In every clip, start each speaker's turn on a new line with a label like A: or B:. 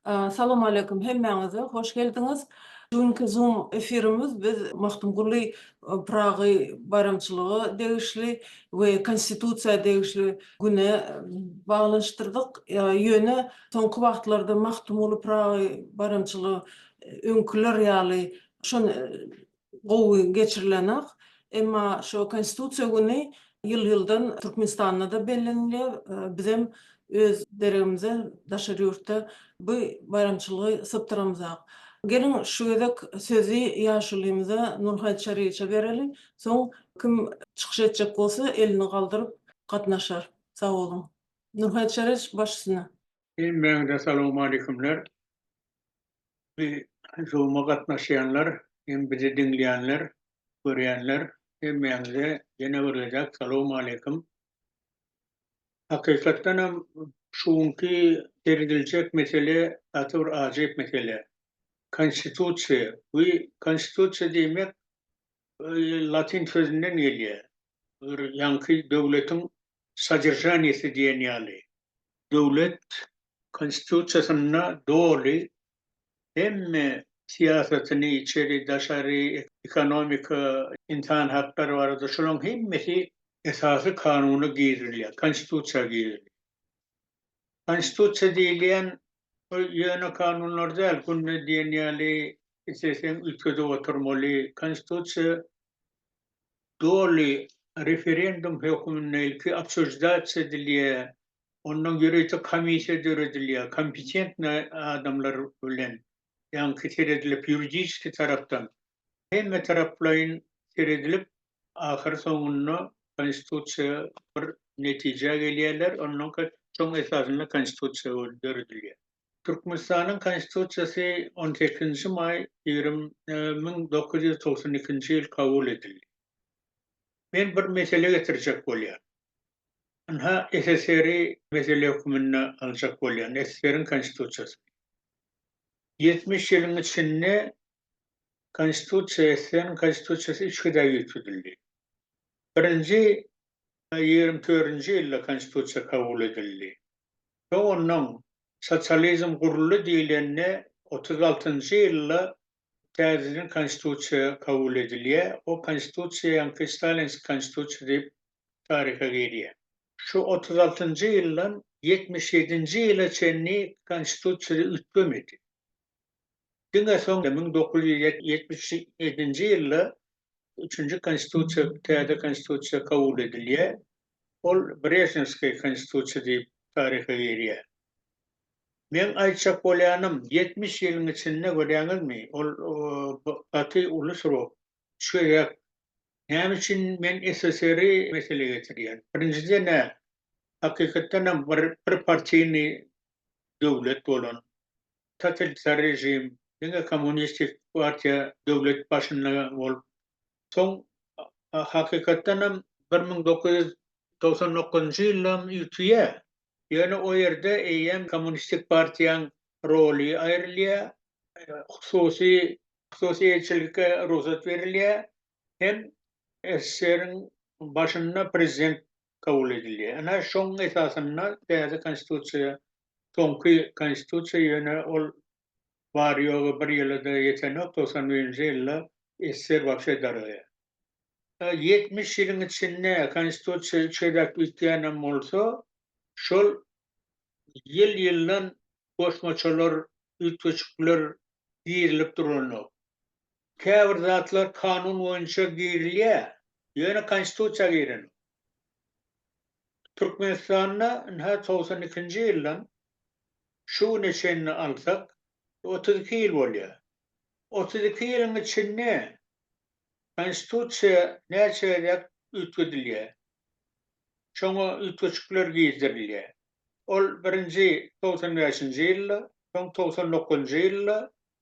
A: Salawmaleýkim hemmäňize, hoş geldiňiz! Şu günki Zoom efirimiz biz Magtymguly Pyragy baýramçylygy degişli we Konstitusiýa degişli güne baglanyşdyrdyk. Ýöne soňky wagtlarda Magtymguly Pyragy baýramçylygy öňküler ýaly şon gowy geçirilenok. Emma şo Konstitusiýa güni ýyl-ýyldan Türkmenistanda-da bellenilýär. Bizem öz deregimize daşary ýurtda bu baýramçylygy sypdyramyzak. Geliň, şu gezek sözi ýaşulymyza Nurhaýt Çaryýewiçe bereliň. Soň kim çykyş etjek bolsa, elini galdyryp gatnaşar. Sag boluň. Nurhaýt Çaryýewiç, baş üstüne. Hemmäňize salowmaleýkumler. Bi Zoom-a gatnaşýanlar hem bizi diňleýänler, görýänler hemmäňize ýene bir gezek salowmaleýkum. Hakykatdan hem şu günki serediljek mesele gaty bir ajaýyp mesele. Konstitusiýa. Bu konstitusiýa diýmek latyn sözünden gelýär. bir ýaňky döwletiň sodržaniýesi diýen ýaly, döwlet Konstitusiýasynda doly hemme syýasatyny, içeri, daşary, ekonomika, ynsan haklary barada şolaryň hemmesi Esasy Kanuna girizilýär, Konstitusiýa girizilýär. Konstitusiýa diýilýän bu ýöne kanunlar däl, günde diýen ýaly isleseň üýtgedip oturmaly, Konstitusiýa Doly referendum hökmünde ilki obsujdatsiýa edilýär, ondan ýörite komissiýa döredilýär, kompetentnyý adamlar bilen, ýaňky seredilip, ýuridiski tarapdan, hemme taraplaýyn seredilip, ahyr soňunda Konstitusiýa bir netijä gelýärler, ondan soň esasynda Konstitusiýa döredilýär. Türkmenistanyň Konstitusiýasy on sekizinji maý ýigrimi müň dokuz ýüz togsan ikinji ýyl kabul edildi. Men bir mesele getirjek bolýan. Ynha, SSR-i mesele höküminde aljak bolýan, SSR-iň Konstitusiýasyny. Ýetmiş ýylyň içinde Konstitusiýa, SSR-iň Konstitusiýasy üç gezek üýtgedildi. Birinji ýigrimi törünji ýylda Konstitusiýa kabul edildi. Soň ondan sosializm guruldy diýlende otuz altynjy ýylda täzeden Konstitusiýa kabul edilýär. O Konstitusiýa ýaňky Stalinskiý Konstitusiýa diýip taryha girýär. Şu otuz altynjy ýyldan ýetmiş ýedinji ýyla çenli Konstitusiýa üýtgemedi. diňe soň müň dokuz ýüz ýetmiş ýedinji ýylda üçünji konstitusiýa, täze konstitusiýa kabul edilýär. Ol Brežnewskiý konstitusiýa diýip taryha girýär. Meň aýtjak bolýanym, ýetmiş ýylyň içinde görýäňizmi, ol gaty uly srok, üç gezek. Näme üçin men SSR-i meselä getirýän? Birinjiden-ä, hakykatdan hem bir partiýny döwlet bolan, totalitar režim, diňe kommunistik partiýa döwlet başynda bolup, soň hakykatdan hem bir müň dokuz ýüz togsan dokuzynjy ýyldam ýitýär. Ýöne o ýerde eýýäm kommunistik partiýaň roly aýrylýar, hususy hususy eýeçilikge rugsat berilýär hem SSR-iň başynda prezident kabul edildi. Ana, şoň esasynda täze Konstitusiýa, soňky Konstitusiýa, ýöne ol bary-ýogy bir ýyla-da ýetenok, togsan birinji ýylda SSR wagşy daralýar. Ýetmiş ýylyň içinde Konstitusiýa üç gezek üýtgänem bolsa, şol ýyl-ýyldan goşmaçalar, üýtgeşikler girizilip duranok. Käbir zatlar kanun boýunça girilýä, ýöne konstitusiýa girenok. Türkmenistanda ynha togsan ikinji ýyldan şu güne çenli alsak otuz iki ýyl bolýa. Otuz iki ýylyň içinde konstitusiýa näçe gezek üýtgedilýä. Şoňa üýtgeşikler gizdirilýä. Ol birinji togsan bäşinji ýylda, soň togsan dokuzynjy ýylda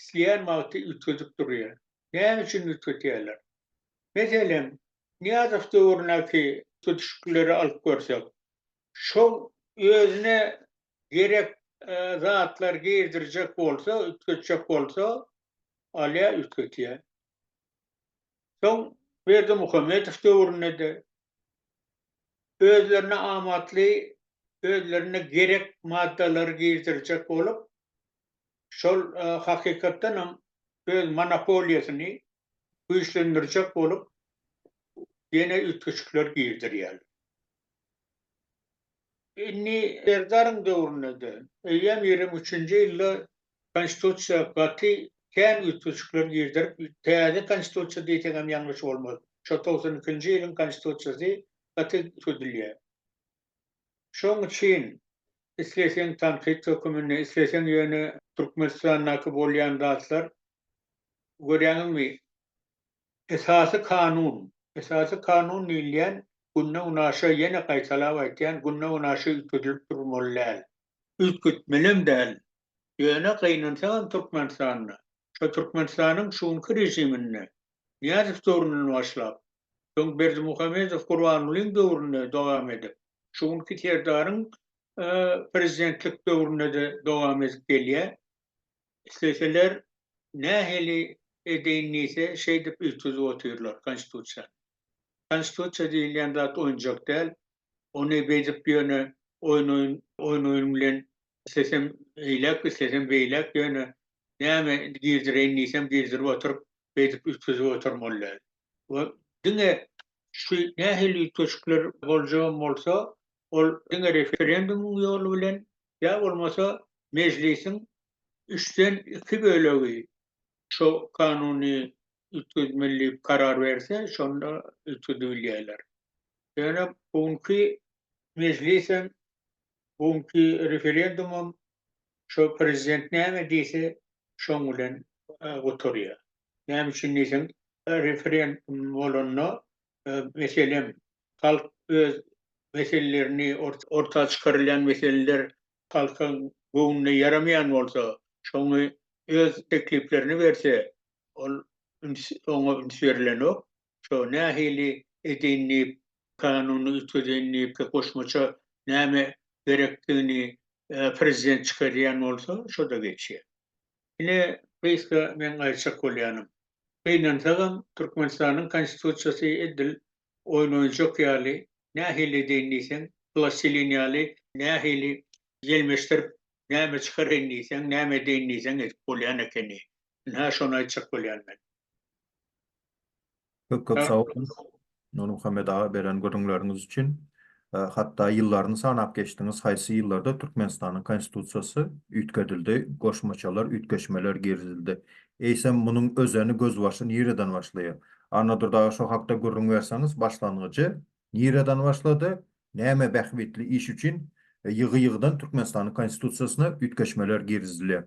A: isleýän wagty üýtgedip durýar. Näme üçin üýtgedýärler? Meselem, Nyýazow döwründäki üýtgedişiklikleri alyp görsek, şol özüne gerek zatlary girdirjek bolsa, üýtgetjek bolsa, alýar, üýtgedýär. Soň Berdimuhamedow döwründe-de özlerine amatly, özlerine gerek maddalary girdirjek bolup, şol hakykatdan hem öz monopoliýasyny güýçlendirjek bolup ýene üýtgeşikler girdirýärler. Indi Serdaryň döwründe-de, eýýäm ýigrimi üçünji ýylda Konstitusiýa gaty kän üýtgeşikler girdirip, täze Konstitusiýa diýseň hem ýalňyş bolmaz. Şo togsan ikinji ýylyň Konstitusiýasy gaty tutulýar. Şoň üçin isleseň tankyt höküminde, isleseň ýöne Türkmenistandaky bolýan zatlar, görýäňizmi, Esasy Kanun, Esasy Kanun diýilýän günde-günaşa, ýene gaýtalap aýtýan, günde-günaşa üýtgedilip durmaly däl. Üýtgetmelem däl. Ýöne gynansaňam Türkmenistanda, şo Türkmenistanyň şu günki režiminde Nyýazow döwründen başlap, soň Berdimuhamedow Gurbangulyň döwründe dowam edip, şu günki Serdaryň prezidentlik döwründe-de dowam edip gelýär. Isleseler nähili edeýin diýse, şeýdip üýtgedip otyrlar Konstitusiýany. Konstitusiýa diýilýän zat oýunjak däl. Ony beýdip ýöne oýun oýun bilen islesem eýläk islesem beýläk ýöne näme girdireýin diýsem girdirip oturyp beýdip üýtgedip oturmaly däl. We diňe şu nähili üýtgeşikler boljagam bolsa ol diňe referendumyň ýoly bilen ýa bolmasa mejlisiň üçden iki bölegi şu kanuny üýtgedmeli karar berse, şonda üýtgedibilýärler. Ýöne bu günki mejlis hem, bu günki referendum hem şo prezident näme diýse, şoň bilen gutarýar. Näme üçin diýseň, referendum bolanda, meselem, halk öz meselelerini, orta çykarylýan meseleler halkyň göwnüne ýaramaýan bolsa, şoňy öz tekliplerini berse, Ol üns oňa üns berilenok. Şo nähili edeýin diýip kanuny üýtgedeýin diýip goşmaça näme gerekdigini prezident çykarýan bolsa şoda geçýär. Ine gysga meň aýtjak bolýanym. Gynansagam Türkmenistanyň konstitusiýasy edil oýun oýunjak ýaly nähili edeýin diýseň plastilin ýaly nähili ýelmeşdirip näme çykaraýyn diýseň näme edeýin diýseň edip bolýan ekeni. Ynha şony aýtjak bolýan men. Köp köp sag boluň Nurmuhammet aga beren gürrüňleriňiz üçin. Hatda ýyllaryny sanap geçdiňiz haýsy ýyllarda Türkmenistanyň konstitusiýasy üýtgedildi, goşmaçalar, üýtgeşmeler girizildi. Eýsem munuň özeni gözbaşy nireden başlaýar? Annadurdy aga şo hakda gürrüň berseňiz başlangyjy nireden başlady, näme bähbitli iş üçin ýygy ýygydan Türkmenistanyň konstitusiýasyna üýtgeşmeler girizilýär?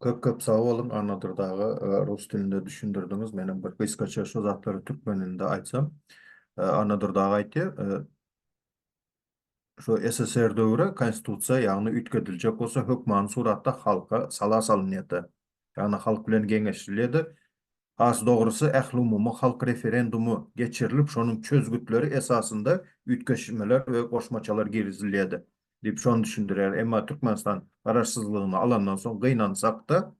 A: Köp köp sag boluň Annadyr daga rus dilinde düşündirdiňiz menem bir gysgaça şu zatlary türkmen dilinde aýtsam Annadyr daga aýtýar şu SSR döwri konstitusiýa ýagny üýtgediljek bolsa hökmany suratda halka sala salynýada ýagny halk bilen geňeşilýada has dogrusy ählumumy halk referendumy geçirilip şonuň çözgütleri esasynda üýtgeşmeler we goşmaçalar girizilýada diýip şony düşündirýär. Emma Türkmenistan garaşsyzlygyny alandan soň gynansak-da,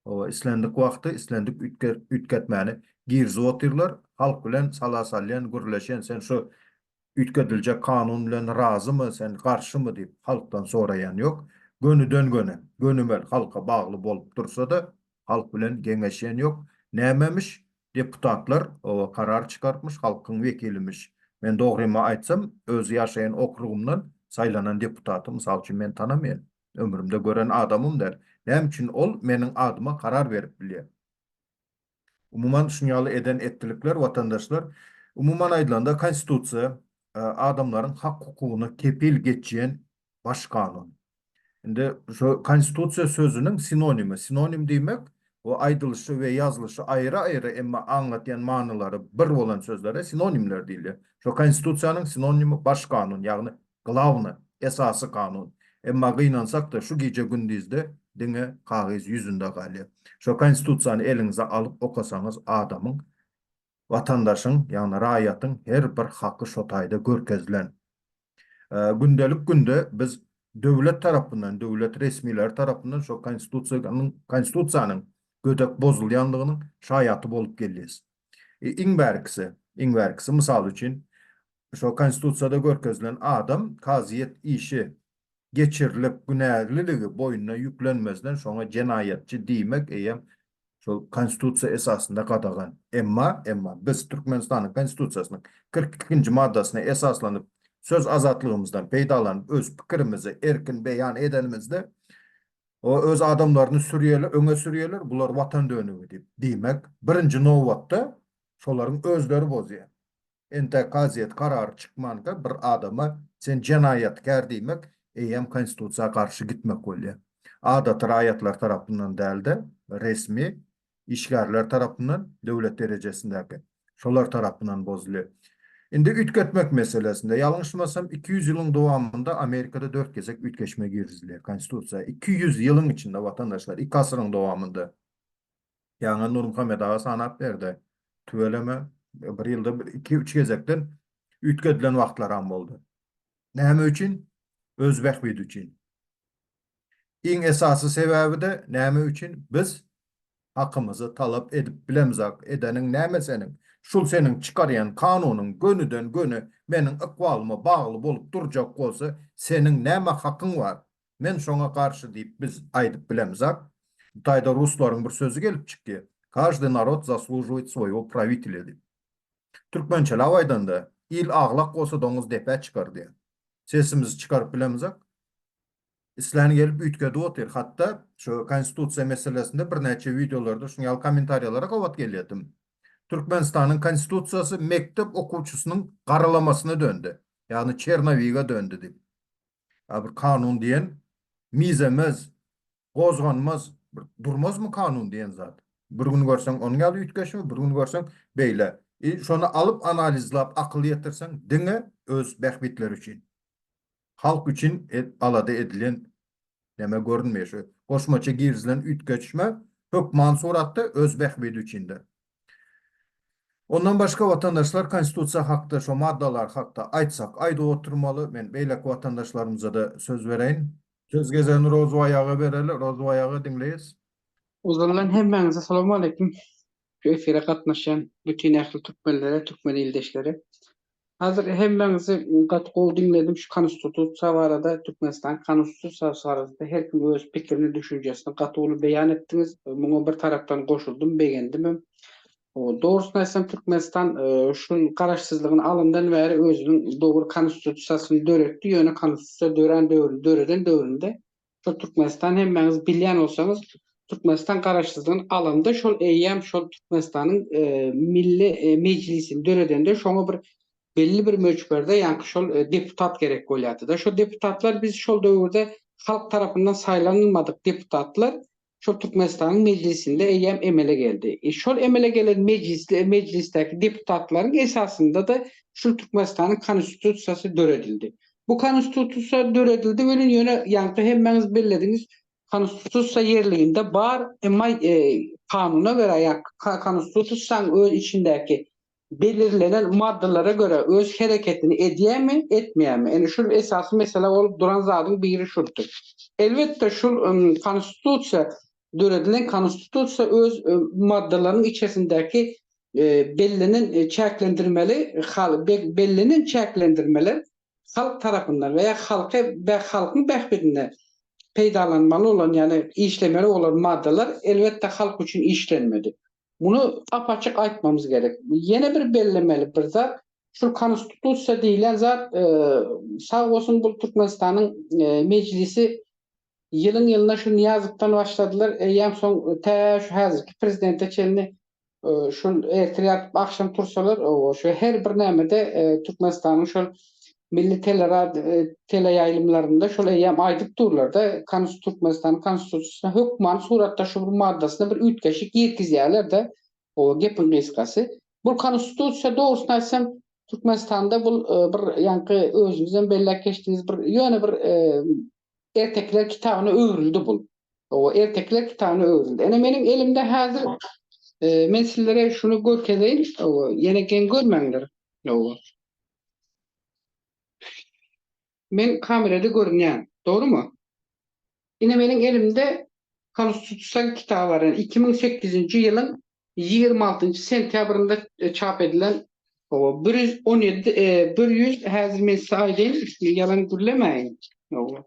A: oba islendik wagty islendik üýtgetmäni girizip otyrlar. Halk bilen sala salýan, gürleşen, sen şu üýtgediljek kanun bilen razymy, sen garşymy diýip halkdan soraýan ýok. Gönüden-göni, gönümel halka bagly bolup dursa-da, halk bilen geňeşýän ýok. Nämemiş, Deputatlar oba karar çykartmyş halkyň wekilimiş. Men dogrymy aýtsam öz ýaşaýan okrugymdan saýlanan deputaty mysal üçin men tanamaýan. Ömrümde gören adamym däl. Näme üçin ol meniň adyma karar berip bilýä. Umuman şun ýaly eden etdilikler watandaşlar umuman aýdylanda konstitusiýa adamlaryň hak hukugyna kepil geçýän Baş kanun. Indi şu konstitusiýa sözüniň sinonimi, sinonim diýmek bu aýdylyşy we ýazylyşy aýry-aýry, emma aňlatýan manylary bir bolan sözlere sinonimler diýilýär. Şu konstitusiýanyň sinonimi baş kanun, ýagny glawny, esasy kanun. Emma gynansak-da şu gije-gündizde diňe kagyz ýüzünde galýar. Şu konstitusiýany eliňize alyp okasaňyz adamyň, watandaşyň, ýagny raýatyň her bir haky şo taýda görkezilen. Gündelik günde biz döwlet tarapyndan, döwlet resmileri tarapyndan şo Konstitusiýanyň, Konstitusiýanyň gödek bozulýandygynyň şaýaty bolup gelýäs. Iň bärkisi, iň bärkisi, mysal üçin, şo Konstitusiýada görkezilen adam kazyýet işi geçirilip günäliligi boýnuna ýüklenmezden şoňa jenaýatçy diýmek eýýäm şol konstitusiýa esasynda gadagan. Emma, emma biz Türkmenistanyň konstitusiýasynyň kyrk ikinji maddasyna esaslanyp söz azatlygymyzdan peýdalanyp öz pikirimizi erkin beýan edenimizde o öz adamlaryny sürýeler öňe sürýeler bular watan dönügi diýip diýmek birinji nobatda şolaryň özleri bozýar. Entek kazyýet karary çykmanka bir adama sen jenaýatkär diýmek eýýäm konstitusiýa garşy gitmek bolýar. Adaty raýatlar tarapyndan däl-de, resmi işgärler tarapyndan, döwlet derejesindäki şolar tarapyndan bozulýar. Indi üýtgetmek meselesinde, ýalňyşmasam iki ýüz ýylyň dowamynda Amerikada dört gezek üýtgeşme girizilýär konstitusiýa. Iki ýüz ýylyň içinde watandaşlar, iki asyryň dowamynda. Ýaňy Nurmuhammet aga sanap berdi. Tüweleme, bir ýylda iki-üç gezekden üýtgedilen wagtlaram boldy. Näme üçin? Öz bähbidi üçin. Iň esasy sebäbi-de näme üçin biz hakymyzy talap edip bilemzok, edeniň näme seniň? Şul seniň çykarýan kanunyň gönüden-göni meniň ykbalyma bagly bolup durjak bolsa, seniň näme hakyň bar? Men şoňa garşy diýip biz aýdyp bilemizak. Bu taýda ruslaryň bir sözi gelip çykýa, Każdy narod zaslujivayt svoýego prawitelýa diýip. Türkmençeläp aýdanda, il aglak bolsa doňuz depä çykar diýýä. Sesimizi çykaryp bilemizak. Islän gelip üýtgedip otyr. Hatda şu konstitusiýa meselesinde birnäçe wideolarda şuň ýaly kommentariýalara gabat gelýärdim. Türkmenistanyň konstitusiýasy mekdep okuwçysynyň garalamasyna döndi. Ýagny Çernowiga döndi diýip. Ýa bir kanun diýen mizemez, gozganmaz, bir durmazmy kanun diýen zat? Bir gün görseň onuň ýaly üýtgeşme, bir gün görseň beýle. I şony alyp analizlap akyl ýetirseň diňe öz bähbitleri üçin. Halk üçin alada edilen neme görünmeýär. Şu goşmaça girizilen üýtgeşme hökman suratda öz bähbidi üçindir. Ondan başga watandaşlar konstitusiýa hakda şo maddalar hakda aýtsak aýdyp oturmaly, men beýleki watandaşlarymyzada söz bereýin. Söz gezegini Rozubaý aga bereli, Rozubaý aga diňleýis. Ozaldan hemmäňize salam aleýkum. Şu efire gatnaşýan bütin ähli türkmenlere, türkmen ildeşlere Hazir hemmäňizi gaty gowy diňledim şu konstitutsiýa barada Türkmenistanyň konstitutsiýasy barasynda her kim öz pikirini düşünjesini gaty uly beýan etdiňiz muňa bir tarapdan goşuldym begendimem dogrusyny aýtsam Türkmenistan şu garaşsyzlygyny alandan bäri özüniň dogry konstitutsiýasyny döretdi ýöne konstitutsiýa dörän döwründe döreden döwründe Şol Türkmenistan hemmäňiz bilýän bolsaňyz, Türkmenistan Garaşsyzlygyny alanda şol eýýäm şol Türkmenistanyň Milli Mejlisini döredende şoňa bir belli bir möçberde ýaňky şol deputat gerek bolýardy-da. Şo deputatlar biz şol döwürde halk tarapyndan saýlanylmadyk deputatlar şol Türkmenistanyň Mejlisinde eýýäm emele geldi. E, şol emele gelen mejlisde, mejlisdäki deputatlaryň esasynda-da şul Türkmenistanyň Konstitusiýasy döredildi. Bu Konstitusiýa döredildi welin, ýöne ýaňky hemmäňiz bellediňiz, Konstitusiýa ýerliginde bar, emma e, kanuna görä ýa Konstitusiýanyň öz içindäki belirlenen maddalara görä öz hereketini edýärmi, etmeýärmi? Ine, şul esasy mesele bolup duran zadyň biri şuldy. Elbetde, şul Konstitusiýa, döredilen Konstitusiýa öz maddalarynyň içerisindäki bellenen çäklendirmeli hal bellenen çäklendirmeler halk tarapyndan we ýa halky halkyň bähbidine peýdalanmaly bolan, ýagny işlemeli bolan maddalar elbetde halk üçin işlenmedi. Muny ap-açyk aýtmamyz gerek. Ýene bir bellemeli bir zat, şu Konstitusiýa diýlen zat, sag bolsun bu Türkmenistanyň Mejlisi ýylyň-ýylyna şu Nyýazowdan başladylar, eýýäm soň tä şu häzirki prezidente çenli şul ertir ýatyp agşam tursalar, oba şu her bir nämede Türkmenistanyň şol milli teleýaýlymlarynda şol eýýäm aýdyp durlar-da, Türkmenistanyň Konstitusiýasyna hökmany suratda şu bir maddasyna bir üýtgeşik girizýärler-de, oba gepiň gysgasy. Bu Konstitusiýa, dogrusyny aýtsam, Türkmenistanda bu bir ýaňky özüňizem belläp geçdiňiz, bir ýöne bir ertekiler kitabyna öwrüldi bu. Oba ertekiler kitabyna öwrüldi. Ene, meniň elimde häzir men sizlere şuny görkezeýin, oba, ýene geň görmäňler. Oba. Men kamerada görünýän, dogrumy? Ine meniň elimde Konstitusiýa kitaby bar, ýagny iki müň sekizinji ýylyň ýigrimi altynjy sentýabrynda çap edilen. Hawa, bir ýüz on ýedi, bir ýüz, häzir men size aýdaýyn, ýalan gürlemäýin. Hawa.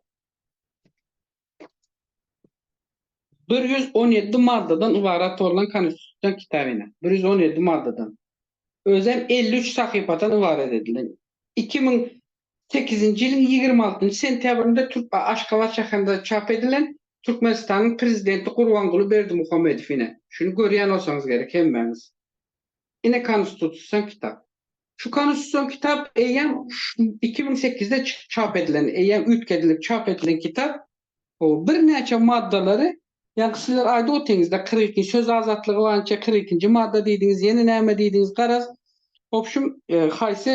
A: Bir ýüz on ýedi maddadan ybarat bolan Konstitusion kitabyna, bir ýüz on ýedi maddadan, özem elli üç sahypadan ybarat edilen, iki müň sekizinji ýylyň ýigrimi altynjy sentýabrynda Türk a Aşgabat şäherinde çap edilen Türkmenistanyň Prezidenti Gurbanguly Berdimuhamedow ine, şuny görýän bolsaňyz gerek hemmäňiz. Ine Konstitusion kitap. Şu konstitusion kitap eýýäm iki müň sekizde çap edilen, eýýäm üýtgedilip çap edilen kitap. Birnäçe maddalary, ýa-da sizler aýdyp otyňyz-da, kyrk ikinji söz azatlygy boýunça kyrk ikinji madda diýdiňiz, ýene näme diýdiňiz, garaz, obşüm, haýsy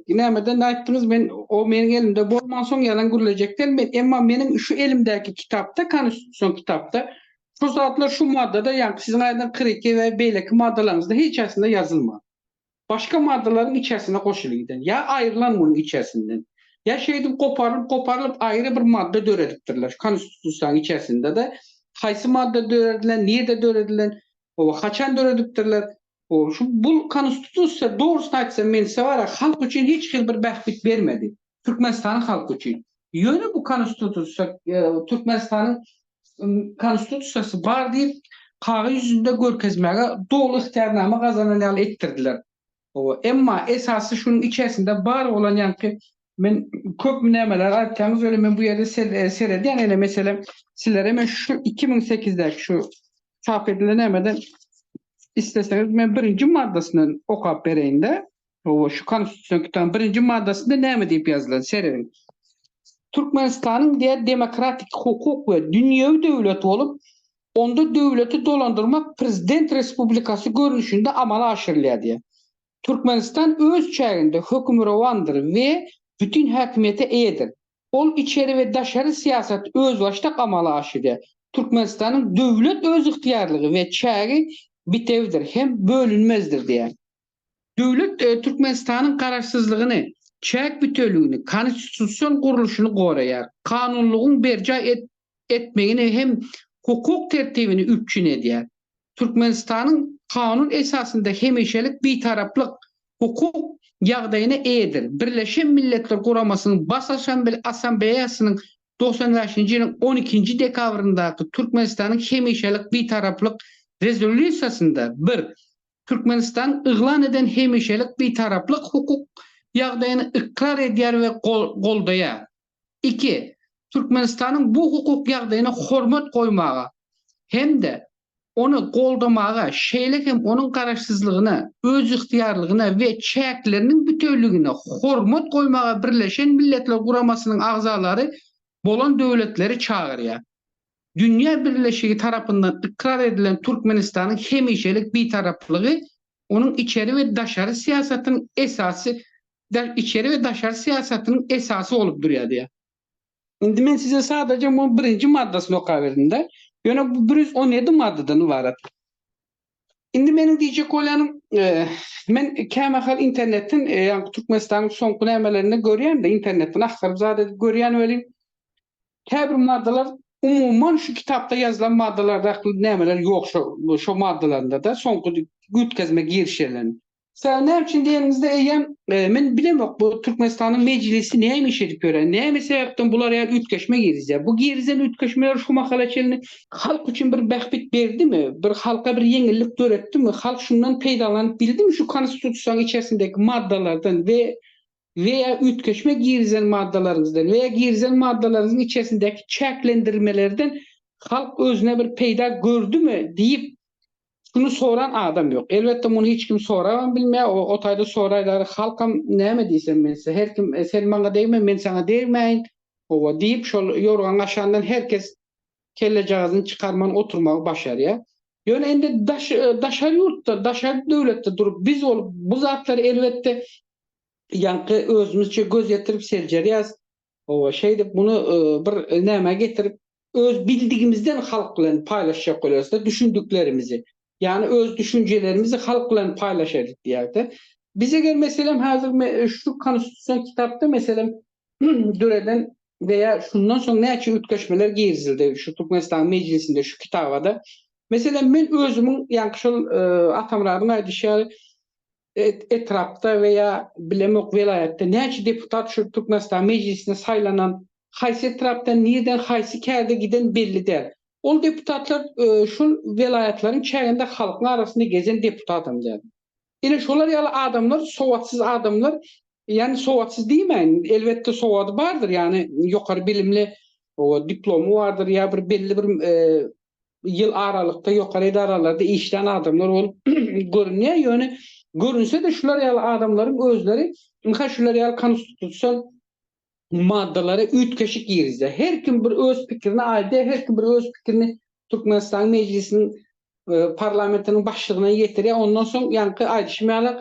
A: nämeden aýtdyňyz, men o meniň elimde bolmansoň ýalan gürlejekden, men, emma meniň şu elimdäki kitapda, konstitusion kitapda şu zatlar şu maddada, ýaňky siziň aýdan kyrk iki we beýleki maddalaryňyzda hiç haýsynda ýazylman. başga maddalaryň içersine goşulyp giden, ýa aýrylan munuň içersinden, ýa şeýdip goparylyp-goparylyp aýry bir madda döredipdirler. Şu Konstitusiýanyň içersinde-de haýsy madda döredilen, nirde döredilen, o haçan döredipdirler, o şu bu Konstitusiýa dogrusyny aýtsam men size bar ya halk üçin hiç hili bir bähbit bermedi. Türkmenistanyň halky üçin. Ýöne bu Konstitusiýa, Türkmenistanyň Konstitusiýasy bar diýip, kagyz ýüzünde görkezmäge doly ygtyýarnama gazanan ýaly etdirdiler. Hawa, emma esasy şunuň içersinde bar bolan ýaňky men köp nämeler aýtýaňyz welin men bu ýerde seredýän ene meselem sizlere men şu iki müň sekizidäki şu çap edilen nämeden isleseňiz men birinji maddasyndan okap bereýinde. Hawa, şu Konstitusion kitabyň birinji maddasynda näme diýip ýazylan, serediň. Türkmenistanyň diýer demokratik, hukuk we dünýewi döwlet bolup, onda döwleti dolandyrmak prezident respublikasy görnüşinde amala aşyrylýar diýer. Türkmenistan öz çäginde hökmürowandyr we bütin häkimiýete eýedir. Ol içeri we daşary syýasaty özbaşdak amala aşyrýar. Türkmenistanyň döwlet özygtyýarlygy we çägi bitewdir hem bölünmezdir diýer. Döwlet Türkmenistanyň garaşsyzlygyny, çäk büteligini, konstitusion gurluşyny goraýar, kanunlygyň berjaý etmegini hem hukuk tertibini üpjün edýär. Türkmenistanyň kanun esasynda hemişelik Bitaraplyk hukuk ýagdaýyna eýedir, Birleşen Milletler Guramasynyň Bas Assambleýasynyň togsan bäşinji ýylyň on ikinji dekabryndaky Türkmenistanyň hemişelik Bitaraplyk rezolýusiýasynda bir Türkmenistan yglan eden hemişelik Bitaraplyk hukuk ýagdaýyny ykrar edýär we goldaýar. Iki, Türkmenistanyň bu hukuk ýagdaýyna hormat goýmaga hem-de ony goldamaga, şeýle hem onuň garaşsyzlygyna, özygtyýarlygyna we çäkleriniň bütewligine hormat goýmaga Birleşen Milletler Guramasynyň agzalary bolan döwletleri çagyrýar. Dünýä birleşigi tarapyndan ykrar edilen Türkmenistanyň hemişelik Bitaraplygy onuň içeri we daşary syýasatynyň esasy içeri we daşary syýasatynyň esasy bolup durýardiýýär. Indi men size sadaja munuň birinji maddasyny okaberdim-de, ýöne bu bir ýüz on ýedi maddadan ybarat. Indi meniň diýjek bolýanym, men kämahal internetden, ýagny Türkmenistanyň soňky nämelerinde görýän-de, internetden agtaryp zat edip görýän welin, käbir maddalar umuman şu kitapda ýazylan maddalardaky nämeler ýok şo maddalarynda-da, soňky üýtgezme girişeleriň. Sen näme üçin deniňizde eýýäm men bilemok bu Türkmenistanyň mejlisi näme iş edip ýören, näme sebäpden bular ýaly üýtgeşme girizýär. Bu girizen üýtgeşmeler şu mahala çenli halk üçin bir bähbit berdimi, bir halka bir ýeňillik döretdimi, halk şundan peýdalanyp bildimi şu Konstitusiýanyň içerisindäki maddalardan we we ýa üýtgeşme girizen maddalaryňyzdan we ýa girizen maddalaryňyzyň içerisindäki çäklendirmelerden halk özüne bir peýda gördümi diýip Şuny soran adam ýok. Elbetde muny hiç kim sorabam bilmeýär. O o taýda soraýlary halkam näme diýsem men size her kim sen maňa degme men saňa degmäýin howa diýip şol ýorgan gaşandan her kes kellejagazyny çykarman oturmagy başarýar. Ýöne indi daş daşary ýurtda daşary döwletde durup biz bolup bu zatlary elbetde ýaňky özümizçe göz ýetirip seljerýäs. Hawa, şeýdip muny bir nämä getirip, öz bildigimizden halk bilen paýlaşjak bolarys-da düşündiklerimizi. Ýagny öz düşünjelerimizi halk bilen paýlaşaýlyk diýýäris-de. Biz eger meselem häzir şu konstitusion kitapda meselem döreden we ýa şundan soň näçe üýtgeşmeler girizildi şu Türkmenistanyň Mejlisinde şu kitaba-da. Meselem men özümiň ýaňky şol Atamyradyň aýdyşy ýaly etrapda we ýa bilemok welaýatda näçe deputat şu Türkmenistan mejlisine saýlanan haýsy etrapdan nirden haýsy kärde giden belli däl. Ol deputatlar şol welaýatlaryň çäginde halkyň arasynda gezen deputatam däl. Ine şolar ýaly adamlar sowatsyz adamlar ýani sowatsyz diýmäýin elbetde sowady bardyr ýani ýokary bilimli diplomy bardyr ýa bir belli bir ýyl aralykda ýokary edaralarda işlän adamlar bolup görünýär, ýöne görünse-de şular ýaly adamlaryň özleri ynha şular ýaly konstitusion maddalara üýtgeşik girizýär. Her kim bir öz pikirini aýdýar, her kim bir öz pikirini Türkmenistanyň Mejlisiniň parlamentiniň başlygyna ýetirýär, ondan soň ýaňky aýdyşym ýaly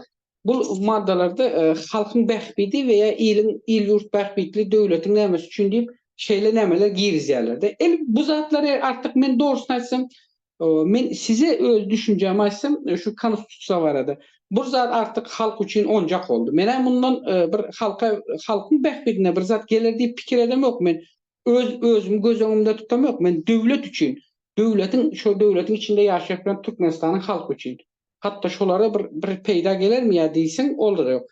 A: Bu maddalarda halkyň bähbidi we ýa iliň il-ýurt bähbitli döwletiň nämesi üçin diýip şeýle nämeler girizýärlerde. El bu zatlary artyk men dogrusyny aýtsam men size öz düşünjämi aýtsam şu konstitusiýa barada bur zat artyk halk üçin onjak boldy. Menä mundan bir halka halkyň bähbidine bir zat geler diýip pikir edemok men öz özümi göz öňümde tutamok men döwlet üçin döwletiň şo döwletiň içinde ýaşaýak bilen Türkmenistanyň halky üçin. hatda şolara bir bir peýda gelermi ýa diýseň olar ýok.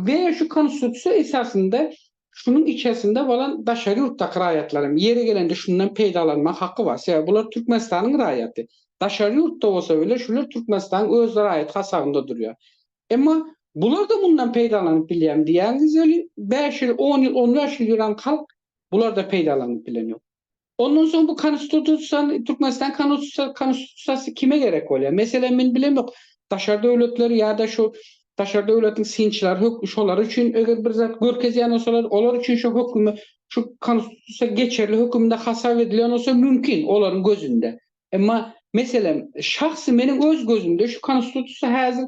A: We şu konstitusiýa esasynda şunuň içersinde bolan daşary ýurtdaky raýatlaram ýeri gelende şundan peýdalanma haky bar. Sebäbi bular Türkmenistanyň raýaty. Daşary ýurtda bolsa bile şular Türkmenistanyň öz raýaty hasabynda durýar. Emma bularda mundan peýdalanyp bilýärmi diýýäňiz welin bäş ýyl, on ýyl, on bäş ýyl ýören halk bularda peýdalanyp bilen ýok. Ondan soň bu konstitutsion Türkmenistan konustusy konstutusiyasy kime gerek bolýar? Meselem men bilemok daşary döwletler ýa-da şu daşary döwletiň synçylary hök şolar üçin eger bir zat görkezýän bolsalar olar üçin şu hökümi şu konstitusiýa geçerli hökümde hasap edilýän bolsa mümkin olaryň gözünde. Emma meselem şahsy meniň öz gözümde şu konstitusiýa häzir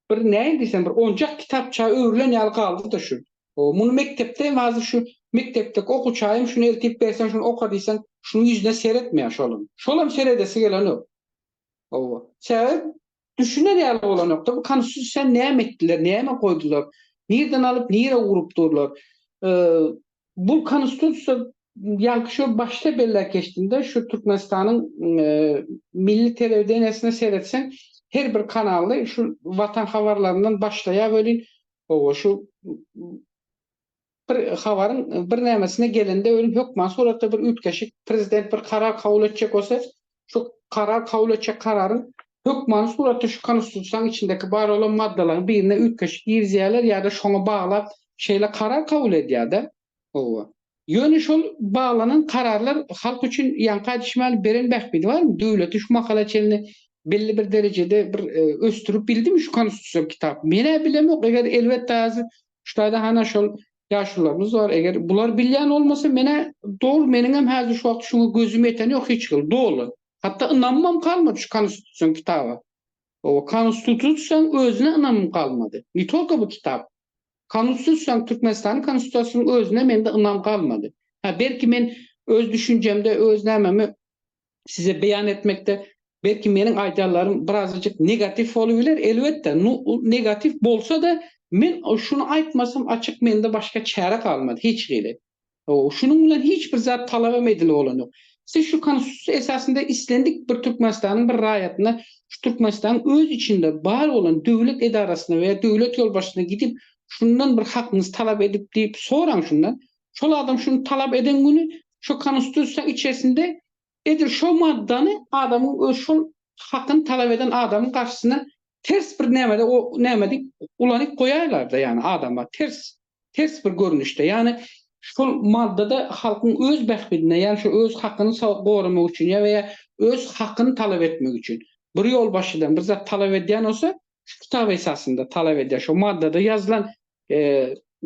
A: bir näin diýsem bir onjak kitapça öwrülen ýaly galdy-da şu. O muny mekdepde hem hazir şu mekdepdeki okuwçaýam şuny eltip berseň şuny oka diýseň şunuň ýüzüne seretmeýär şolam. Şolam seredesi gelenok. Hawa. Sebäbi düşüner ýaly bolanokda bu konstitusiýany näme etdiler, näme goýdular, nireden alyp nirä urup durlar. Bu Konstitusiýa ýaňky şo başda belläp geçdimde, şu Türkmenistanyň milli telewideniýesine seretseň, her bir kanalda şu Watan habarlaryndan başlaýar welin, hawa, şu bir habaryň birnämesine gelende welin hökman suratda bir üýtgeşik, prezident bir karar kabul etjek bolsa, şu karar kabul etjek kararyň hökmany suratda şu Konstitusiýanyň içindäki bar bolan maddalaryň birine üýtgeşik girizýärler ýa-da şoňa baglap şeýle karar kabul edýär-de. Hawa. Ýöne şol baglanan kararlar halk üçin ýaňka düşmäli beren bähbidi barmy? Döwleti şu mahala çenli belli bir derejede bir ösdürip bildimi şu Konstitusiýa kitap? Men-ä bilemok, eger elbetde häzir şu taýda hana şol Ýaşulylarymyz bar, eger bular bilýän bolmasa menä doly meniňem häzir şu wagt şuňa gözüm ýeten ýok hiç hili doly. Hatda ynamymam galmady şu konstitusion kitaba. Oba konstitutsiýaň özüne ynamym galmady. Ne tolko bu kitap. Konstitusiýaň Türkmenistanyň konstitusiýasynyň özüne mende ynam galmady. Hä belki men öz düşünjemde öz nämemi size beýan etmekde belki meniň aýdarlarym birazajyk negatiw bolup biler, elbetde, nu negatiw bolsa-da men şuny aýtmasam açyk mende başga çäre galmady hiç hili. Şunuň bilen hiç bir zat talabam edilip bolan ýok. Siz şu Konstitusiýa esasynda islendik bir Türkmenistanyň bir raýatyna şu Türkmenistanyň öz içinde bar bolan döwlet edarasyna we döwlet ýolbaşçysyna gidip şundan bir hakyňyzy talap edip diýip soraň şundan. Şol adam şuny talap eden güni şu Konustusiýa içerisinde edil şo maddany adamyň öz şol hakyny talap eden adamyň garşysyna ters bir nämede o näme diýip ulanyp goýaýlarda ýani adama ters ters bir görnüşde ýani şol maddada halkyň öz bähbidine ýani şu öz hakyny goramak üçin ýa we ýa öz hakyny talap etmek üçin bir ýolbaşçydan bir zat talap edýän bolsa şu kitap esasynda talap edýär. Şo maddada ýazylan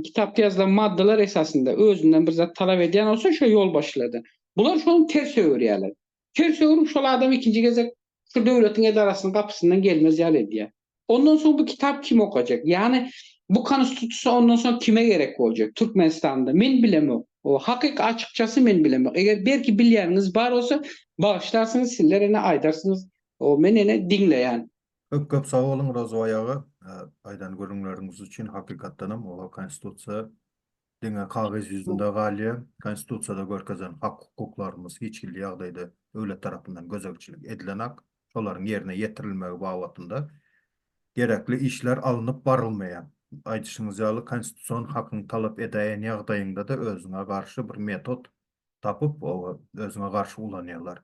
A: kitapda ýazylan maddalar esasynda özünden bir zat talap edýän bolsa şo ýolbaşçylardan. Bular şony ters öwürýärler. Ters öwürip şol adam ikinji gezek şu döwletiň edarasynyň gapysyndan gelmez ýaly edýär. Ondan soň bu kitap kim okajak? Ýagny bu konstitusiýa ondan soň kime gerek boljak Türkmenistanda? Men bilemok. O hakyk açykçasy men bilemok. Eger belki bilýäniňiz bar bolsa bagyşlarsyňyz sizler ene aýdarsyňyz. O men ene diňleýän. Köp köp sag boluň Rozoý aga aýdan gürrüňleriňiz üçin hakykatdanam olar konstitusiýa diňe kagyz ýüzünde galýar konstitusiýada görkezen hak hukuklarymyz hiç hilli ýagdaýda döwlet tarapyndan gözegçilik edilenak şolaryň ýerine ýetirilmegi babatynda gerekli işler alnyp barylmaýar aýdyşyňyz ýaly konstitusion hakyňy talap edäýen ýagdaýyňdada özüňe garşy bir metod tapyp özüňe garşy ulanýarlar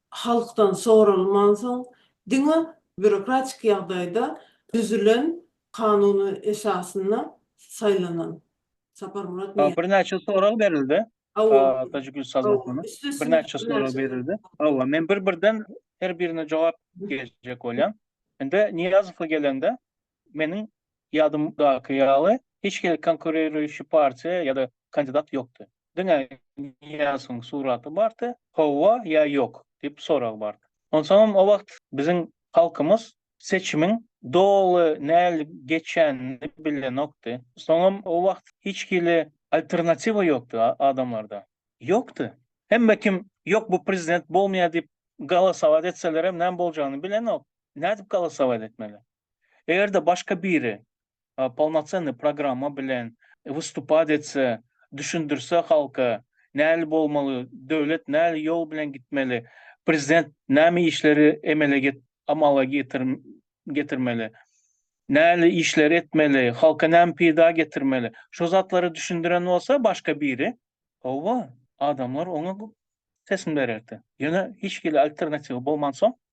A: halkdan soralmansoň diňe býurokratik ýagdaýda düzülen kanun esasynda saýlanan Saparmyrat Niýazow. Birnäçe sorag berildi. Hawa. Tajigül Sazokowna. Birnäçe sorag berildi. Hawa, men bir-birden her birine jogap berjek bolýan. Indi Niýazowa gelende, Meniň ýadymdaky ýaly, hiç hili konkuririýşi partiýa ýa-da kandidat ýokdy. Diňe Niýazyň suraty bardy, Hawa ýa ýok? diýip sorag bardy. Onsoňam o wagt biziň halkymyz seçimiň doly nähili geçýänini bilenokdy. Soňam o wagt hiç hili alternatiwa ýokdy adamlarda. Ýokdy. Hemme kim ýok bu prezident bolmaýar diýip galasować etselerem näme boljagyny bilenok. Nädip galasować etmeli? Eger-de başga biri polnocennyý programma bilen wystupat etse, düşündirse halka, näli bolmaly, döwlet näli ýol bilen gitmeli, prezident näme işleri emele amala getirmeli, näli işleri etmeli, halka näme peýda getirmeli, şo zatlary düşündiren bolsa başga biri, howwa, adamlar oňa teslim bererdi. Ýöne hiç hili alternatiwy bolmansoň,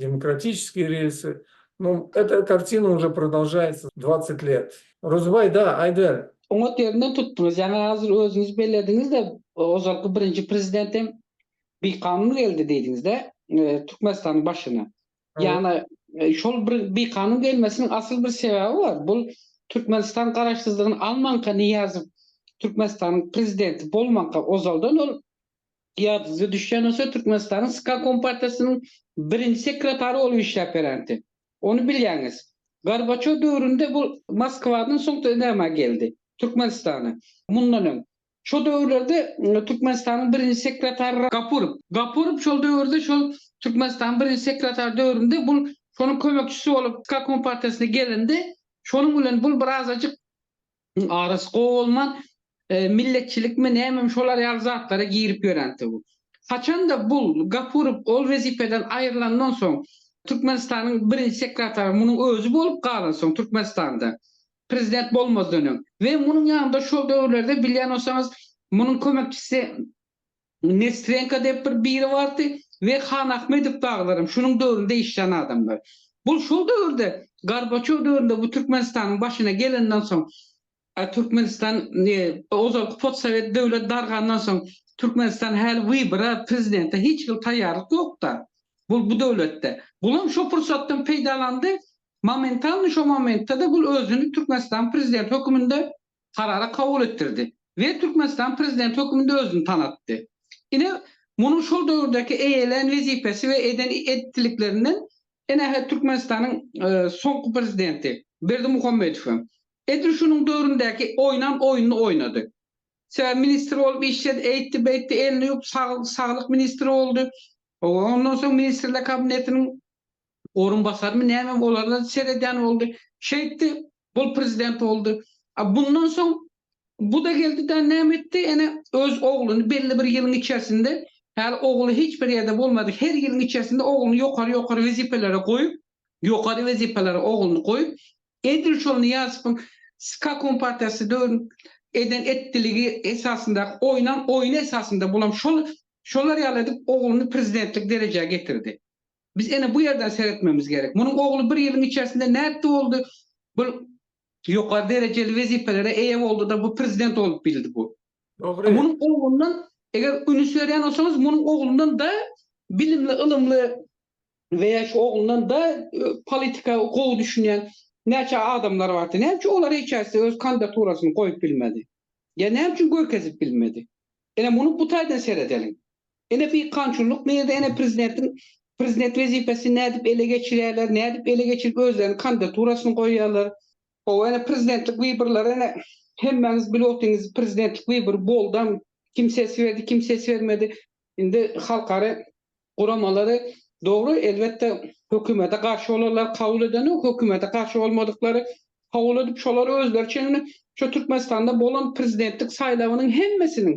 A: Demokratiçeskiý relsi, nu, eta kartina uje prodalžaýtsa dwaset let. Rozbaý, da, aýdyber. Oňat ýerinden tutdyňyz. Ýaňy hazir özüňiz bellediňiz-de, ozalky birinji prezident hem bikanun geldi diýdiňiz-dä Türkmenistanyň başyna. Ýagny şol bir bikanun gelmesiniň asyl bir sebäbi bar. Bu Türkmenistan garaşsyzlygyny almanka Nyýazow Türkmenistanyň prezidenti bolmanka ozaldan ol Ýadyňyza düşýän bolsa, Türkmenistanyň SKA kompartiýasynyň birinji sekretary bolup işläp berändi. Ony bilýäňiz. Gorbaçow döwründe bu Moskwadan, soňra näme geldi? Türkmenistana. Mundan öň. Şo döwürlerde Türkmenistanyň birinji sekretary Gapurow. Gapurow şol döwürde şol Türkmenistanyň birinji sekretary döwründe bul şonuň kömekçisi bolup SKA kompartiýasyna gelindi. Şonuň bilen bul birazajyk Arasy gowy bolman milletçilikmi nämemi şolar ýaly zatlara girip ýören tüwi. Haçanda bul Gapurow ol wezipeden aýrylandan soň Türkmenistanyň birinji sekretary munuň özi bolup galansoň Türkmenistanda prezident bolmazdan öň we munuň ýanynda şol döwürlerde bilýän bolsaňyz munuň kömekçisi Nestrenko diýip bir biri bardy we Hanahmedow dagylaram şunuň döwründe işlän adamlar. Bu şol döwürde Gorbaçow döwründe bu Türkmenistanyň başyna gelenden soň Türkmenistan ozalky potsowet döwlet dargandan soň Türkmenistan häli wybora prezidente hiç hili taýýarlyk ýokda bu bu döwletde. Bulam şo pursatdan peýdalandy momentalny şo momentde-de bu özüni Türkmenistanyň prezidenti höküminde karary kabul etdirdi we Türkmenistan Prezidenti hökmünde özüni tanatdy. Ine, munuň şol döwürdäki eýelän wezipesi we eden edipdiliklerinden ene hä Türkmenistanyň soňky Prezidenti Berdimuhamedow hem edil şunuň döwründäki oýnan oýnuny oýnady. Sebäbi ministr bolup işledi, eýtdi-beýtdi, elini ýuwup, saglyk ministri boldy. Ondan soň Ministrler Kabinetiniň orunbasarmy nämemi olara seredýän boldy. Şeýtdi, bul prezident boldy. A bundan soň bu-da geldi-de näme etdi, ene, öz ogluny belli bir ýylyň içersinde, häli ogly hiç bir ýerde bolmady, her ýylyň içersinde ogluny ýokary-ýokary wezipelere goýup, ýokary wezipelere ogluny goýup, edil şol Nyýazowyň ska kompartiýasy döwründe eden etdiligi esasyndaky oýnan oýny esasynda bulam şol, şolar ýaly edip ogluny prezidentlik derejä getirdi. Biz ene bu ýerden seretmemiz gerek. Munuň ogly bir ýylyň içersinde nätdi boldy? Bu ýokary derejeli wezipelere eýe boldy-da, bu prezident bolup bildi bu. Dogry. Munuň oglundan, eger ünüs berýän bolsaňyz, munuň oglundan da bilimli, ylymly we ýa şu oglundan da politika gowy düşünýän näçe adamlar bardy. Näme üçin olar hiç haýsy öz kandidaturasyny goýup bilmedi? Ýa näme üçin görkezip bilmedi? Ene muny bu taýdan seredeliň. Ene peýkamçylyk nirde ene prezidentiň prezident wezipesini nädip ele geçirýärler nädip ele geçirip özleriniň kandidaturasyny goýýarlar hawa ene prezidentlik wyborlary ene hemmäňiz bilip otyňyz prezidentlik wybory boldam kim ses berdi kim ses bermedi indi halkara guramalary dogry elbetde hökümete garşy bolanlar kabul edenok hökümete garşy bolmadyklary kabul edip şolar özleriçe indi şu türkmenistanda bolan prezidentlik saýlawynyň hemmesiniň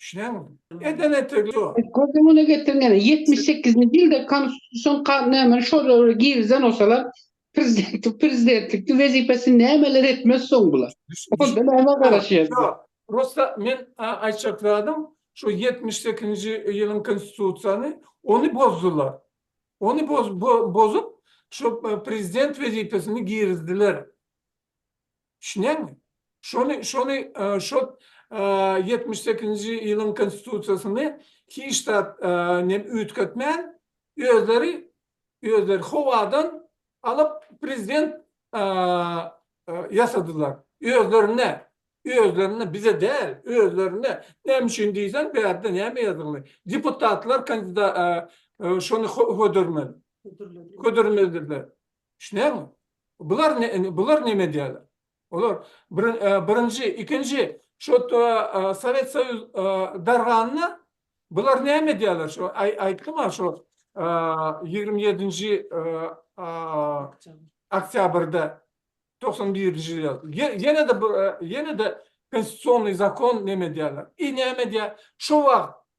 A: Düşüneňizmi? Eden etegi şu. Göz öňüne getiriň ene, ýetmiş sekizinji ýylda Konstitusion ka, nämä şo döwre girizen bolsalar, prezidenti, prezidentlikde wezipesini nämeler etmez soň bular? Düş, düş, Onda nämä garaşýas? Şo, prosta men a, aýtjak zadym, şo ýetmiş sekizinji ýylyň Konstitusiýany, ony bozdular. Ony boz, bo, bozup, şo prezident wezipesini girizdiler. Düşünýäňmi? Şony, şony, şo ýetmiş sekizinji ýylyň konstitusiýasyny hiç zat nem üýtgetmän, özleri, özleri howadan alyp prezident ýasadylar. Özlerine, özlerine, bize däl, özlerine. Näme üçin diýseň, bärde näme ýazgyly? Deputatlar kandida, şony hödürmeli, hödürmelidirler. Düşünýäňmi? Bular ne, bular neme edýärler? Olar birinji, ikinji şo Sowet Soýuz darganda bular näme edýärler? Şo aýtdym-a şo ýigrimi ýedinji oktýabrda togsan birinji ýyl. Ýene-de ýene-de konstitusionnyý zakon neme edýärler? I näme edýär? Şo wagt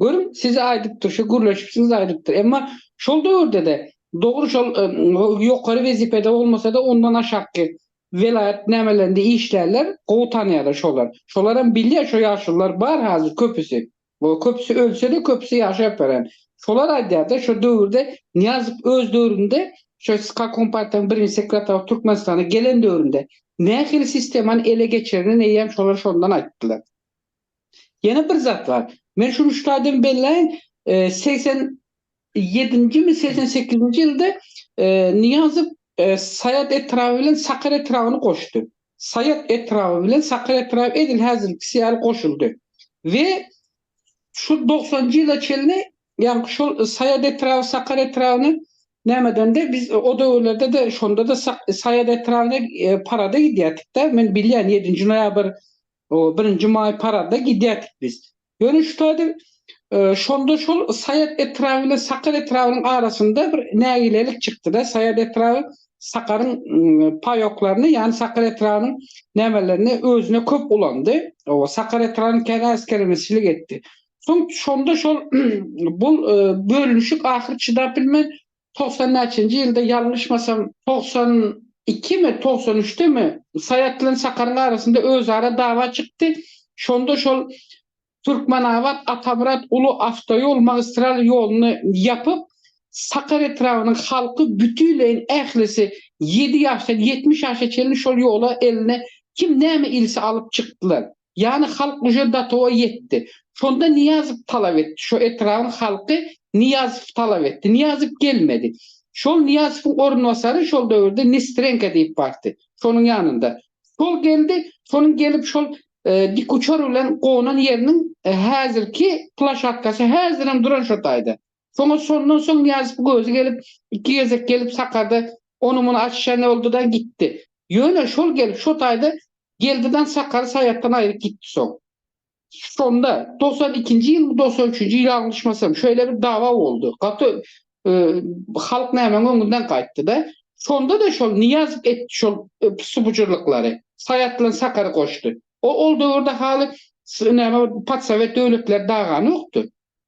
A: Görüň, size aýdypdyr, şu gürleşip size aýdypdyr. Emma şol döwürde-de, dogry şol ýokary wezipede bolmasa-da, ondan aşakky welaýat nämelerinde işlärler, gowy tanýarlar şolar. Şolaram bilýär, şo ýaşulylar bar hazir köpüsi. Ol köpüsi ölse-de, köpüsi ýaşap ýören. Şolar aýdýar-da, şo döwürde Nyýazow öz döwründe, şo SHK kompartiýanyň birinji sekretawy Türkmenistana gelen döwründe nähili sistemany ele geçirenineýýäm şolar şondan aýtdylar. Ýene bir zat bar. Men şuny şu taýdan belläýin, segsen ýedinjimi, segsen sekizinji ýylda Nyýazow Saýat etraby bilen Sakar etrabyny goşdy. Saýat etraby bilen Sakar etraby edil häzirkisi ýaly goşuldy we şu dogsanjy ýyla çenli, ýagny şol Saýat etraby Sakar etrabyny näme edende, biz o döwürlerde-de, şonda-da Saýat etrabyny parada gidýärdik-de, men bilýän, ýedinji noýabr O birinji maý parada gidýärdik biz. Görnüş taýdan şonda şol Saýat etraby bilen Sakar etrabynyň arasynda bir nägilelik çykdy-da, Saýat etraby Sakaryň paýoklaryny, ýagny Sakar etrabynyň nämelerini özüne köp ulandy. O Sakar etrabynyň kän äsgerini silik etdi. Soň şonda şol bul bölünişik ahyry çydap bilmän togsan näçenji ýylda ýalňyşmasam togsan ikimi togsan üçdemi Saýat bilen Sakaryň arasynda özara dawa çykdy şonda şol Türkmenabat Atamyrat uly awtoýol magistral ýoluny ýapyp Sakar etrabynyň halky bütinleýin ählisi ýedi ýaşdan ýetmiş ýaşa çenli şol ýola eline kim näme ilse alyp çykdylar. Ýagny halk uje datowa ýetdi. Şonda Nyýazow talap etdi. Şo etrabyň halky Nyýazowy talap etdi. Nyýazow gelmedi. Şol Nyýazowyň orunbasary şol döwürde Nestrenko diýip bardy. Şonuň ýanynda. Şol geldi. Şonuň gelip şol dik uçar bilen gonan ýeriniň häzirki plaşatkasy häzirem duran şo taýda. Soňa şondan soň Nyýazow gözi gelip, iki gezek gelip Sakarda ony-muny açyşan oldy-da, gitdi. Ýöne şol gelip şo taýda geldi-dä Sakary Saýatdan aýryp gitdi soň. Şonda, togsan ikinji ýylmy, togsan üçünji ýyl aglşmasam, şeýle bir dawa boldy. Gaty halk nämäň öňünden gaýtdy-da. Şonda-da şol Nyýazow etdi şol pysy-bujurlyklary. Saýat bilen Sakary goşdy. O ol döwürde haly s näme patsowet döwletleri daganokdy.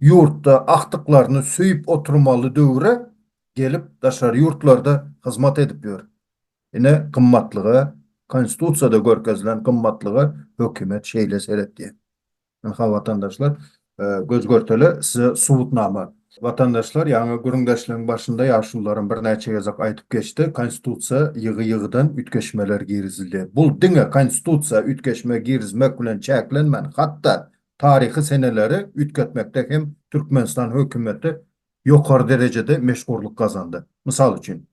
A: ýurtda agtyklaryny söýüp oturmaly döwre gelip daşary ýurtlarda hyzmat edip ýör. Ine gymmatlyga konstitusiýada görkezilen gymmatlyga hökümet şeýle seretýär. Ynha watandaşlar göz görtele size subutnama. Watandaşlar ýaňy gürrüňdeşligiň başynda ýaşulularym birnäçe gezek aýdyp geçdi konstitusiýa ýygy ýygydan üýtgeşmeler girizildi. Bul diňe konstitusiýa üýtgeşme girizmek bilen çäklenmän hatda Taryhy seneleri üýtgetmekde hem Türkmenistan hökümeti ýokary derejede meşhurlyk gazandy. Mysal üçin,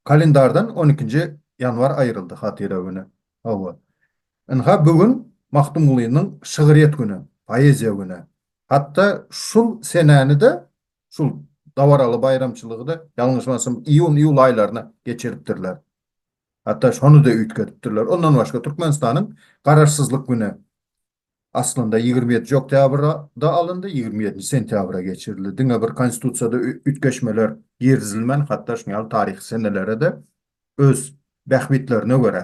A: kalendardan on ikinji ýanwar aýryldy, hatyra güni. Hawa, ynha, bu gün Magtymgulynyň şygryýet güni, poeziýa güni. Hatda şul senäni-de, şul dabaraly baýramçylygy-da, ýalňyşmasam, iýun-iýul aýlaryna geçiripdirler. Hatda şony-da üýtgedipdirler. Ondan başga, Türkmenistanyň Garaşsyzlyk güni, Aslynda ýigrimi ýedinji oktýabrda alyndy, ýigrimi ýedinji sentýabra geçirildi. Diňe bir Konstitusiýada üýtgeşmeler girizilmän, hatda şuny ýaly taryhy senelere-de öz bähbitlerine görä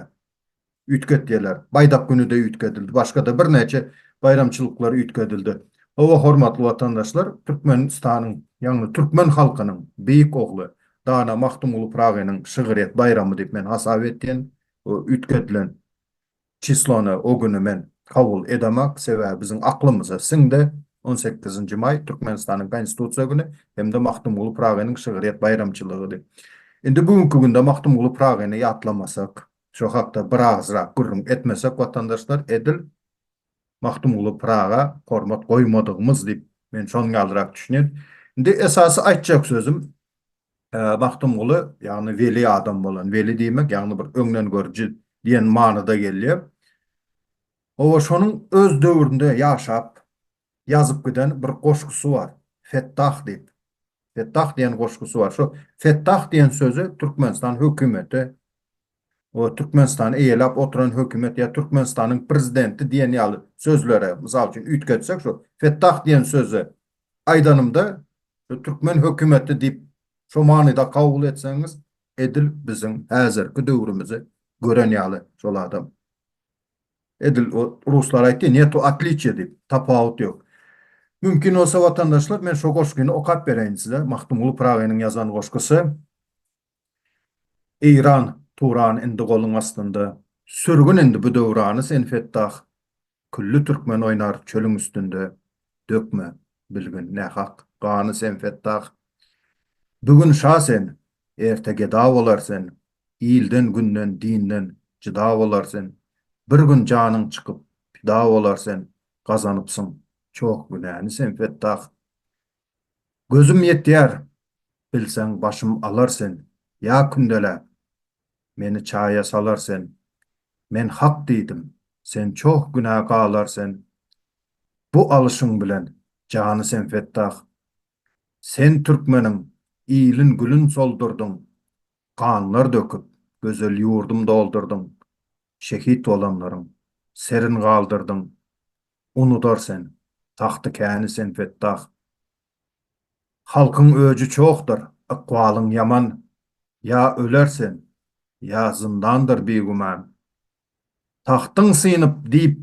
A: üýtgetdiler. Baýdak güni-de üýtgedildi, başga-da birnäçe baýramçylyklar üýtgedildi. Hawa, hormatly watandaşlar, Türkmenistanyň, ýagny türkmen halkynyň beýik ogly, dana Magtymguly Pyragynyň şygryýet baýramy diýip men hasap etýän bu üýtgedilen Çislony o güni men kabul edemak, sebäbi biziň aklymyza siňdi, on sekizinji maý, Türkmenistanyň Konstitusiýa güni hem-de Magtymguly Pyragynyň şygryýet baýramçylygydy. Indi bu günki günde Magtymguly Pyragyny ýatlamasak, şo hakda birazrak gürrüň etmesek watandaşlar, edil Magtymguly Pyraga hormat goýmadygymyz diýip, men şonuň ýalyrak düşünýän. Indi esasy aýtjak sözüm, Magtymguly, ýagny weli adam bolan, weli diýmek, ýagny bir öňdengörüji diýen manyda gelýär. Hawa, şonuň öz döwründe ýaşap, ýazyp giden bir goşgusy bar, Fettah diýip. Fettah diýen goşgusy bar. Şu Fettah diýen sözi Türkmenistan hökümeti we Türkmenistany eýeläp oturan hökümet ýa Türkmenistanyň prezidenti diýen ýaly sözlere, mysal üçin, üýtgetsek şu Fettah diýen sözi aýdanymda şu türkmen hökümeti diýip şu manyda kabul etseňiz edil biziň häzirki döwrümizi gören ýaly şol adam. Edil ruslar aýtdy netu otliçiýa diýip, tapawut ýok. Mümkin bolsa watandaşlar men şu goşgyny okap bereýin size, Magtymguly Pyragynyň ýazan goşgusy. Eýran Turan indi goluň astynda Sürgün indi bu döwrany sen Fettah Külli türkmen oýnar çölüň üstünde Dökme bilgin nähak gany sen Fettah Bu gün şa sen erte geda bolar sen Ilden günden dinden jyda bolar sen Bir gün janyň çykyp pida bolar sen Gazanypsyň çoh günäni sen Fettah Gözüm ýetýär, bilseň başym alar sen, Ýa kündeläp, meni çaýa salar sen, Men hak diýdim, sen çoh günä galar sen, Bu alyşyň bilen jany sen fetdah. Sen türkmeniň ilin gülün soldurdyň, Ganlar döküp, gözel ýurdum doldurdyň, şehit bolanlaryň serin galdyrdyň Unudar sen, tagty käni sen Fettah Halkyň öji çohdyr, ykbalyň ýaman Ýa öler sen, ýa zyndandyr bigüman Tagtyň synyp diýp,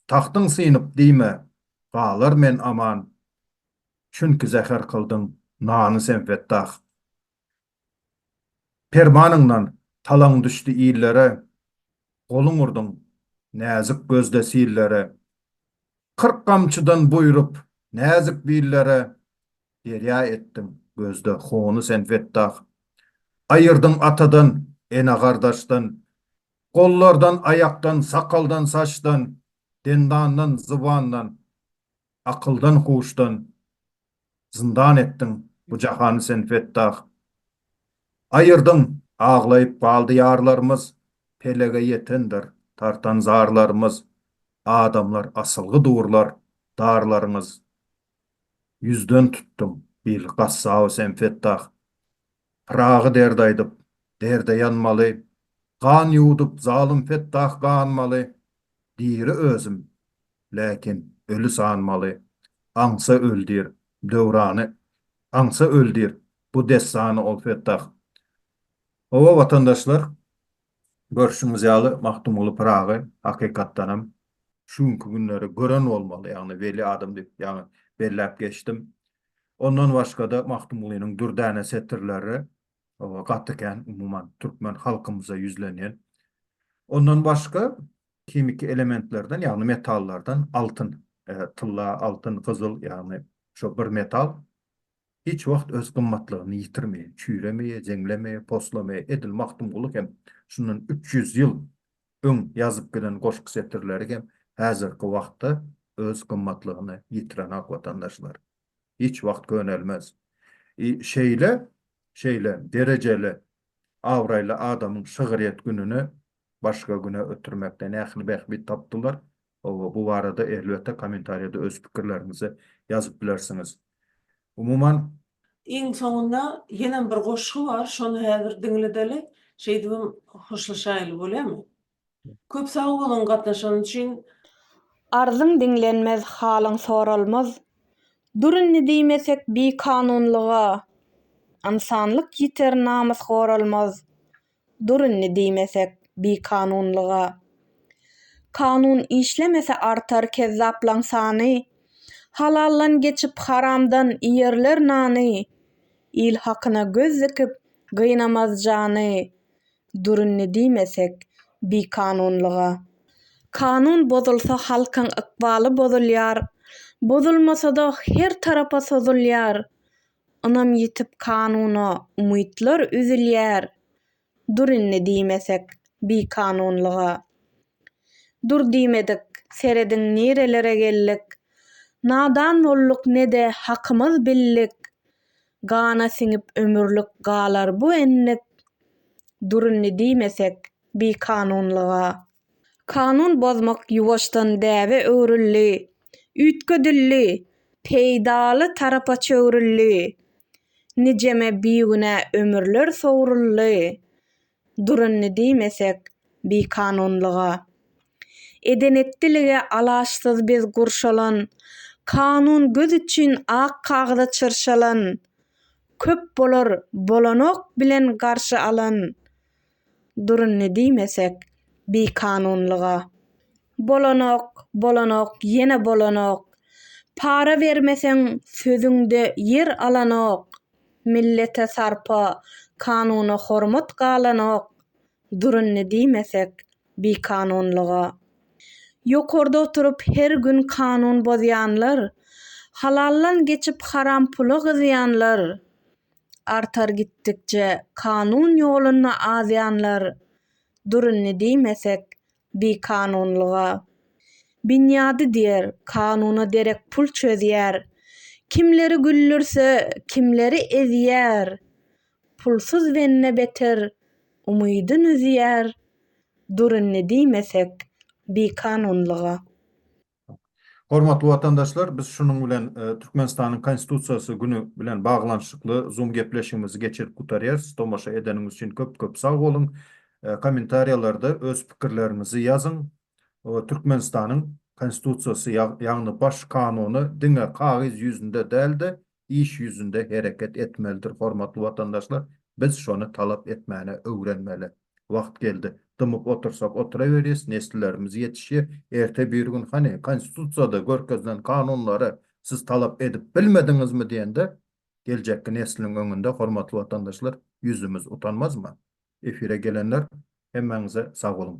A: tagtyň synyp diýme Galar men aman Çünki zäher kyldyň nany sen Fettah Permanyňdan talaň düşdi illere, Goluň urduň näzik gözde sillere. Kyrk gamçydan buýrup, näzik billere, Derýa etdiň gözde hony sen fetdah. Aýyrdyň atadan, ene-gardaşdan, Gollardan, aýakdan, sakaldan, saçdan, Dendandan, zybandan. Akyldan huşdan zyndan etdiň bu jahany sen Fettah. Aýyrdyň, aglaýyp galdy ýarlarymyz, pelege ýetendir tartan zarlarymyz, adamlar asylgy durlar darlaryňyz. Ýüzden tutduň bil gassaby sen Fettah. Pyragy derde aýdyp, derde ýanmaly, Gan ýuwdup, zalym Fetdah ganmaly. Diri özüm, läkin öli sanmaly, Aňsa öl diýr, Döwrany, aňsa öl diýr, Bu dessany ol Fetdah. Hawa, watandaşlar, görşüňiz ýaly, Magtymguly Pyragy, hakykatdanam, şu günki günleri gören bolmaly, ýagny weli adam diýip, ýagny belläp geçdim. Ondan başga-da Magtymgulynyň dürdäne setirleri gaty kän, umuman, türkmen halkymyza ýüzlenýän. Ondan başga himiki elementlerden, ýagny metallardan altyn, tylla, altyn, gyzyl, ýagny şo bir metal hiç wagt öz gymmatlygyny ýitirmeýär, çüýremeýär, jeňlemeýär, poslamaýar. Edil Magtymguly hem şundan üç ýüz ýyl öň ýazyp gelen goşgy setirleri hem häzirki wagtda öz gymmatlygyny ýitirenok watandaşlar. Hiç wagt könelmez. I şeýle şeýle derejeli abraýly adamyň şygryýet gününi başga güne ötürmekde nähili bähbit tapdylar, Hawa, bu barada elbetde kommentariýada öz pikirleriňizi ýazyp bilersiňiz. Umuman. Iň soňunda ýenem bir goşgy bar, şony häzir diňledeli, şeýdibem hoşlaşaýyly bolýamy? Köp sag boluň gatnaşan üçin. Arzyň diňlenmez, halyň soralmaz, Dur indi diýmesek bikanunlyga, Ynsanlyk ýiter, namys goralmaz, Dur indi diýmesek bikanunlyga. Kanun işlemese artar kezzaplaň sany. Halaldan geçip haramdan iýerler nany. Il hakyna göz dikip gynamaz jany. Dur indi diýmesek bikanunlyga. Kanun bozulsa halkyň ykbaly bozulýar. Bozulmasa-da her tarapa sozulýar. Ynam ýitip kanuna umytlar üzülýär Dur indi diýmesek bikanunlyga Dur diýmedik serediň nirelere geldik Nadan bolduk ne-de hakymyz bildik Gana siňip ömürlik galar bu endik Dur indi diýmesek bikanunlyga. Kanun bozmak ýuwaşdan däbe öwrüldi, üýtgedildi, peýdaly tarapa çöwrüldi. Nijeme bigünä ömürler sowruldy, durundy diýmesek bikanunlyga. Eden-etdilige alaçsyz biz gurşalan, kanun göz üçin ak kagyza çyrşalan. Köp bolar bolanok bilen garşy alan. Durun ne diýmesek bikanunlyga. Bolanok bolanok ýene bolanok. Para bermeseň sözüňde ýer alanok. Millete sarpa kanuna hormat galanok. Durun ne diýmesek bikanunlyga. Ýokarda oturyp her gün kanun bozýanlar. Halaldan geçip haram pula gyzýanlar. artar gitdikçe kanun ýolunda azýanlar durunny diýmesek bikanunlyga binýady diýer kanuna derek pul çözýär kimleri güldürse kimleri ezýär pulsuz bende beter umydyn üzýär durunny diýmesek bikanunlyga. Hormatly watandaşlar, biz şunuň bilen Türkmenistanyň Konstitusiýasy güni bilen baglanyşykly Zoom gepleşigimizi geçirip gutarýarys. Tomaşa edeniňiz üçin köp-köp sag boluň. Kommentariýalarda öz pikirleriňizi ýazyň. Türkmenistanyň Konstitusiýasy, ýagny Baş Kanuny diňe kagyz ýüzünde däl-de, iş ýüzünde hereket etmelidir hormatly watandaşlar biz şony talap etmäne öwrenmeli wagt geldi dymyp otursak otyraberýes neslilerimiz ýetişýe erte birgün hany konstitusiýada görkezilen kanunlary siz talap edip bilmediňizmi diýende geljekki nesliň öňünde hormatly watandaşlar ýüzümiz utanmazmy efire gelenler hemmäňize sag boluň.